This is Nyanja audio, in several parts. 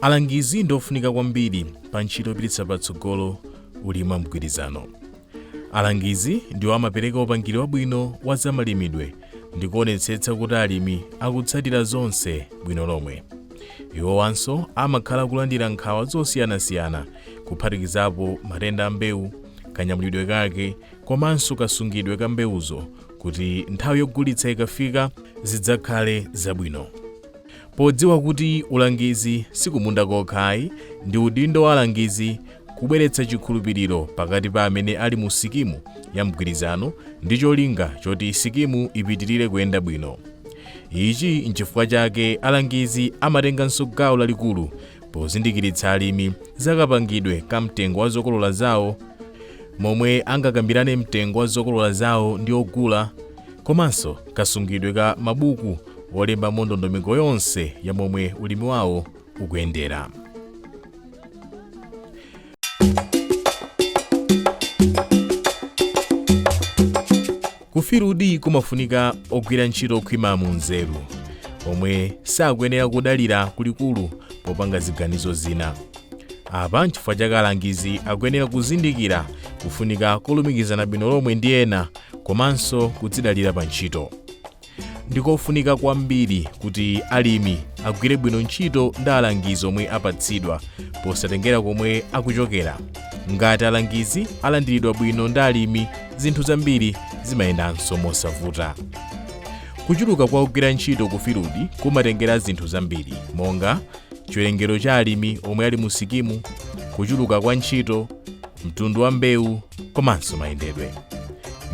alangizi ndi ofunika kwambiri pa ntchito yopititsa patsogolo ulimi wa mgwirizano alangizi ndiwo amapereka upangiri wabwino wa zamalimidwe ndi kuonetsetsa kuti alimi akutsatira zonse bwino lomwe iwowanso amakhala kulandira nkhawa zosiyanasiyana kuphatikizapo matenda a mbewu kanyamulidwe kake komanso kasungidwe ka mbewuzo kuti nthawi yogulitsa ikafika zidzakhale zabwino. Podziwa kuti ulangizi si kumunda kokha ayi, ndi udindo wa alangizi kubweretsa chikhulupiriro pakati pa amene ali mu sikimu ya mgwirizano ndi cholinga choti sikimu ipitirire kuyenda bwino. Ichi n'chifukwa chake alangizi amatenganso gawo lalikulu pozindikiritsa alimi za kapangidwe ka mtengo wa zokolola zawo momwe angakambirane mtengo wa zokolola zawo ndi ogula komanso kasungidwe ka mabuku olembamo ndondomeko yonse ya momwe ulimi wawo ukuyendera kufirudi kumafunika ogwira ntchito okhwima mu nzeru omwe sakuyenera kudalira kulikulu popanga ziganizo zina apa nchifukwa chake alangizi akuyenera kuzindikira kufunika kolumikizana bwino lomwe ndi ena komanso kudzidalira pa ntchito ndikofunika kwambiri kuti alimi agwire bwino ntchito ndi alangizi omwe apatsidwa posatengera komwe akuchokera ngati alangizi alandiridwa bwino ndi alimi zinthu zambiri zimayendanso mosavuta kuchuluka kwa ogwira ntchito ku filudi kumatengera zinthu zambiri monga chiwerengero cha alimi omwe ali mu sikimu kuchuluka kwa ntchito mtundu wa mbewu komanso mayendedwe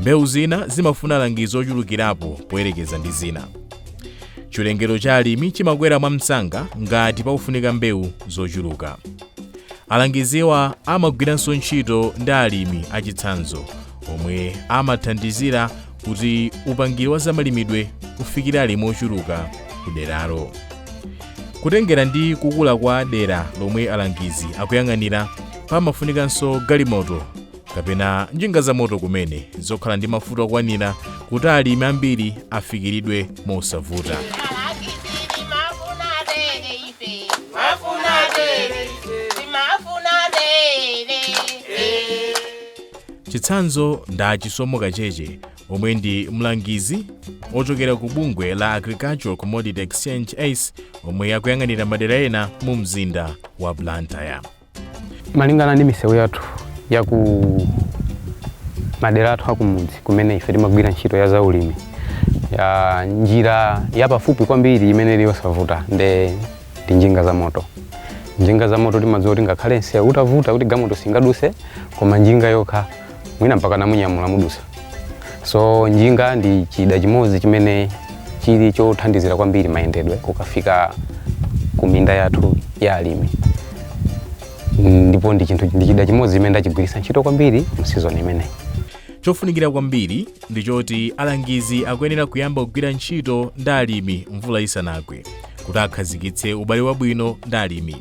mbewu zina zimafuna alangizi ochulukirapo poyerekeza ndi zina chiwerengero cha alimi chimakwera mwamsanga ngati pakufunika mbewu zochuluka alangiziwa amagwiranso ntchito ndi alimi achitsanzo omwe amathandizira kuti upangiri wa zamalimidwe ufikire alimi ochuluka ku deralo kutengera ndi kukula kwa dera lomwe alangizi akuyang'anira pamafunikanso galimoto kapena njinga za moto kumene zokhala ndi mafuta okwanira kuti alimi ambiri afikiridwe mosavuta Chitsanzo ndi a Chisomo Kacheche omwe ndi mlangizi ochokera ku bungwe la Agricultural Commodity Exchange ACE omwe akuyang'anira madera ena mu mzinda wa Blantyre. Malingana ndi misewu yathu ya ku madera athu akumudzi kumene ife timagwira ntchito ya zaulimi ya njira yapafupi kwambiri imene ili yosavuta nde ndi njinga za moto njinga za moto timadziwa kuti ngakhale nsewu utavuta kuti galimoto singaduse koma njinga yokha mwina mpaka mumanyamula mudutsa so njinga ndi chida chimodzi chimene chili chothandizira kwambiri mayendedwe kukafika ku minda yathu ya alimi ndipo ndi chida chimodzi chimene ndachigwiritsa ntchito kwambiri mu season imeneyi Chofunikira kwambiri ndi choti alangizi akuyenera kuyamba kugwira ntchito ndi alimi mvula isanagwe kuti akhazikitse ubale wabwino ndi alimi.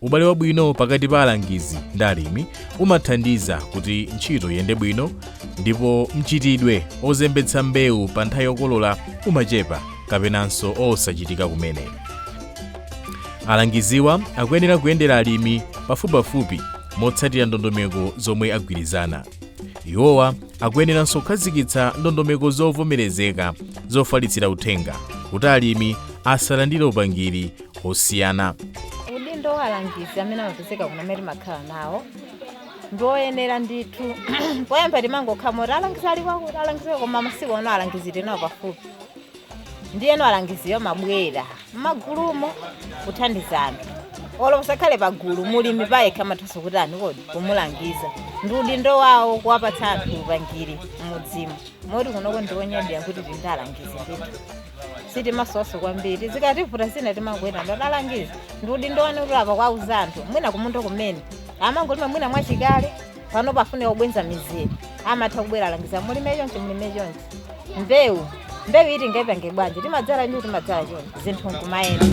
Ubale wabwino pakati pa alangizi ndi alimi umathandiza kuti ntchito iyende bwino ndipo mchitidwe ozembetsa mbewu pa nthawi yokolola umachepa kapenanso osachitika kumene. Alangiziwa akuyenera kuyendera alimi pafupipafupi motsatira ndondomeko zomwe agwirizana. iwowa akuyeneranso kukhazikitsa ndondomeko zovomerezeka zofalitsira uthenga kuti alimi asalandire upangiri osiyana udindo wa alangizi amene amapezeka kuno amene timakhala nawo ndi oyenera ndithu poyamba timangokhala moti alangizi ali kwakuti alangiziwo koma masiku ano alangizi tili nawo pafupi ndiyeno alangiziwo amabwera mmagulumo kuthandiza anthu olo asakhale pagulu mulimi payekha amathanso kuti ani kodi kumulangiza ndi udindo wawo kuwapatsa anthu upangiri mmudzimu moti kunoko ndi onyadira kuti tili ndi alangizi ndithu sitimasowanso kwambiri zikativuta zina timangoyenda kwa alangizi ndi udindo wanu kuti apa kuwauza anthu mwina kumunda kumene amangolima mwina mwachikale pano pofuna kubweza mizere amatha kubwera alangizi mulime chonchi mulime chonchi mbewu mbewu iyi tingaipange bwanji timadzala ndi timadzala chonchi zinthu nkumayenda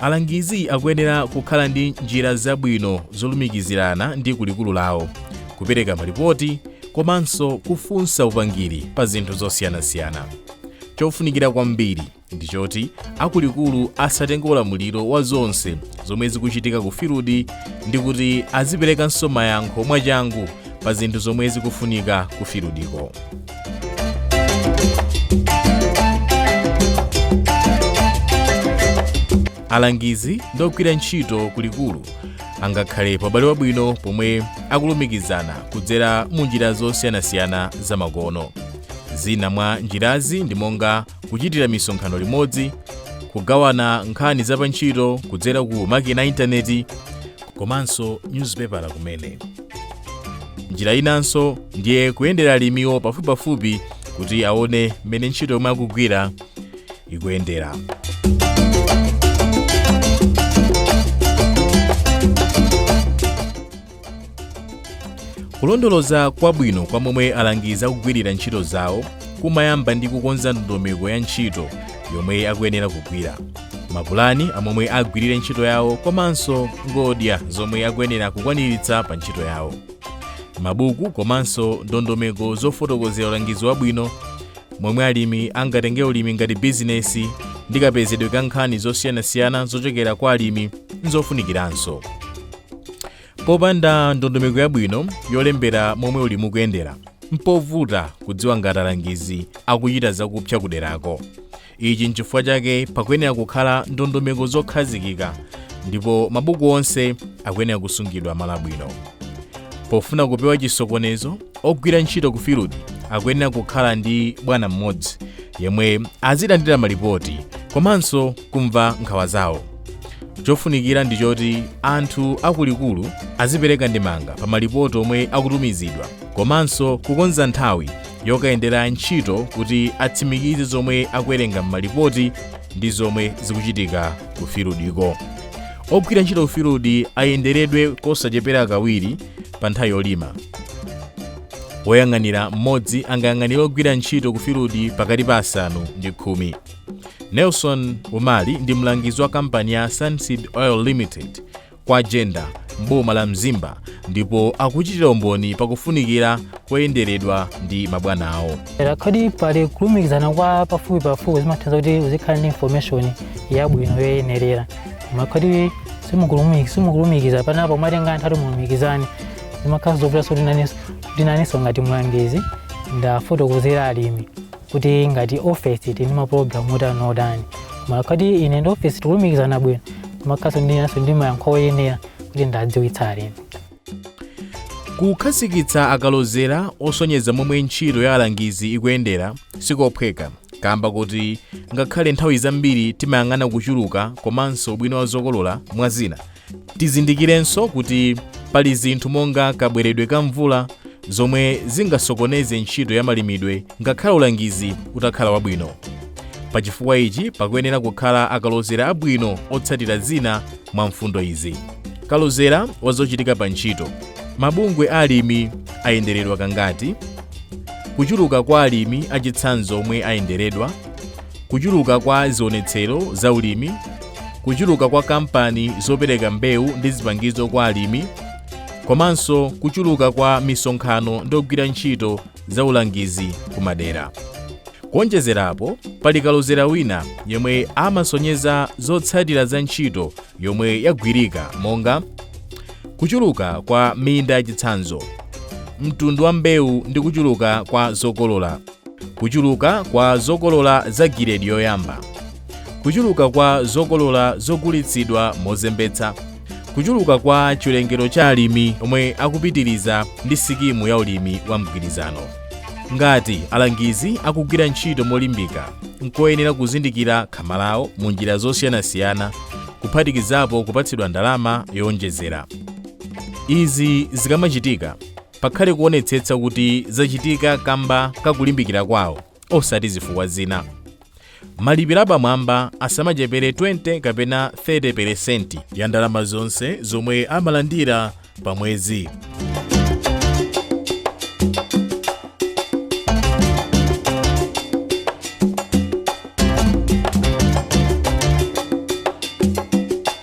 alangizi akuyenera kukhala ndi njira zabwino zolumikizirana ndi kulikulu lawo kupereka malipoti komanso kufunsa upangiri pa zinthu zosiyanasiyana chofunikira kwambiri ndi choti akulikulu asatenge ulamuliro wa zonse zomwe zikuchitika ku filudi ndi kuti aziperekanso mayankho mwachangu pa zinthu zomwe zikufunika ku filudiko alangizi ndi ogwira ntchito kulikulu angakhale paubale wabwino pomwe akulumikizana kudzera mu njira zosiyanasiyana zamakono zina mwa njirazi ndi monga kuchitira misonkhano limodzi kugawana nkhani za pa ntchito kudzera ku makina a intaneti komanso nyuzipepala kumene njira inanso ndiye kuyendera alimiwo pafupipafupi kuti aone mmene ntchito yomwe akugwira ikuyendera kulondoloza kwabwino kwa momwe alangizi akugwirira ntchito zawo kumayamba ndi kukonza ndondomeko ya ntchito yomwe akuyenera kugwira mapulani amomwe agwirire ntchito yawo komanso ngodya zomwe akuyenera kukwaniritsa pa ntchito yawo mabuku komanso ndondomeko zofotokozera ulangizi wabwino momwe alimi angatenge ulimi ngati bizinesi ndi kapezedwe ka nkhani zosiyanasiyana zochokera kwa alimi nzofunikiranso popanda ndondomeko yabwino yolembera momwe ulimi ukuyendera mpovuta kudziwa ngati alangizi akuchita zakupsa kuderako ichi nchifukwa chake pakuyenera kukhala ndondomeko zokhazikika ndipo mabuku onse akuyenera kusungidwa malo abwino pofuna kupewa chisokonezo ogwira ntchito ku field akuyenera kukhala ndi bwana mmodzi yemwe azilandira malipoti komanso kumva nkhawa zawo chofunikira ndi choti anthu akuluakulu azipereka ndemanga pa malipoti omwe akutumizidwa komanso kukonza nthawi yokayendera ntchito kuti atsimikize zomwe akuwerenga m'malipoti ndi zomwe zikuchitika ku filudiko ogwira ntchito ku filudi ayenderedwe kosachepera kawiri pa nthawi yolima woyang'anira mmodzi angayang'anire ogwira ntchito ku filudi pakati pa asanu ndi khumi Nelson Umali ndi mlangizi wa kampani ya Sunseed Oil Limited kwa Jenda m'boma la Mzimba ndipo akuchitira umboni pakufunikira koyenderedwa ndi mabwana awo. Kodi pali kulumikizana kwa pafupi pafupi zimathandiza kuti uzikhala ndi information yabwino yoyenerera. Koma kodi simukulumikiza panapo mwatenga nthawi kuti mulumikizane zimakhala zovutanso kuti inenso ngati mlangizi ndafotokozera alimi. kuti ngati ofesi tili ndi mapulogalamu otani otani koma ikakhala kuti ine ndi ofesi tikulumikizana bwino ndimakhalanso ndi inenso ndi mayankho oyenera kuti ndadziwitsa alimi kukhazikitsa akalozera osonyeza momwe ntchito ya alangizi ikuyendera sikophweka kamba kuti ngakhale nthawi zambiri timayang'ana kuchuluka komanso ubwino wa zokolola mwa zina Tizindikirenso kuti pali zinthu monga kabweredwe ka mvula zomwe zingasokoneze ntchito ya malimidwe ngakhale ulangizi utakhala wabwino. Pa chifukwa ichi pakuyenera kukhala akalozera abwino otsatira zina mwa mfundo izi. Kalozera wa zochitika pa ntchito. Mabungwe a alimi ayenderedwa kangati? Kuchuluka kwa alimi achitsanzo omwe ayenderedwa? kuchuluka kwa zionetsero za ulimi kuchuluka kwa kampani zopereka mbewu ndi zipangizo kwa alimi komanso kuchuluka kwa misonkhano ndi ogwira ntchito za ulangizi kumadera kuonjezerapo pali kalozera wina yemwe amasonyeza zotsatira za ntchito yomwe yagwirika monga kuchuluka kwa minda yachitsanzo mtundu wa mbewu ndi kuchuluka kwa zokolola kuchuluka kwa zokolola za giredi yoyamba kuchuluka kwa zokolola zogulitsidwa mozembetsa kuchuluka kwa chiwerengero cha alimi omwe akupitiriza ndi sikimu ya ulimi wa mgwirizano ngati alangizi akugwira ntchito molimbika nkoyenera kuzindikira khama lawo mu njira zosiyanasiyana kuphatikizapo kupatsidwa ndalama yowonjezera izi zikamachitika pakhale kuonetsetsa kuti zachitika kamba ka kulimbikira kwawo osati zifukwa zina malipiro apamwamba asamachepere 20 kapena 30 peresenti ya ndalama zonse zomwe amalandira pa mwezi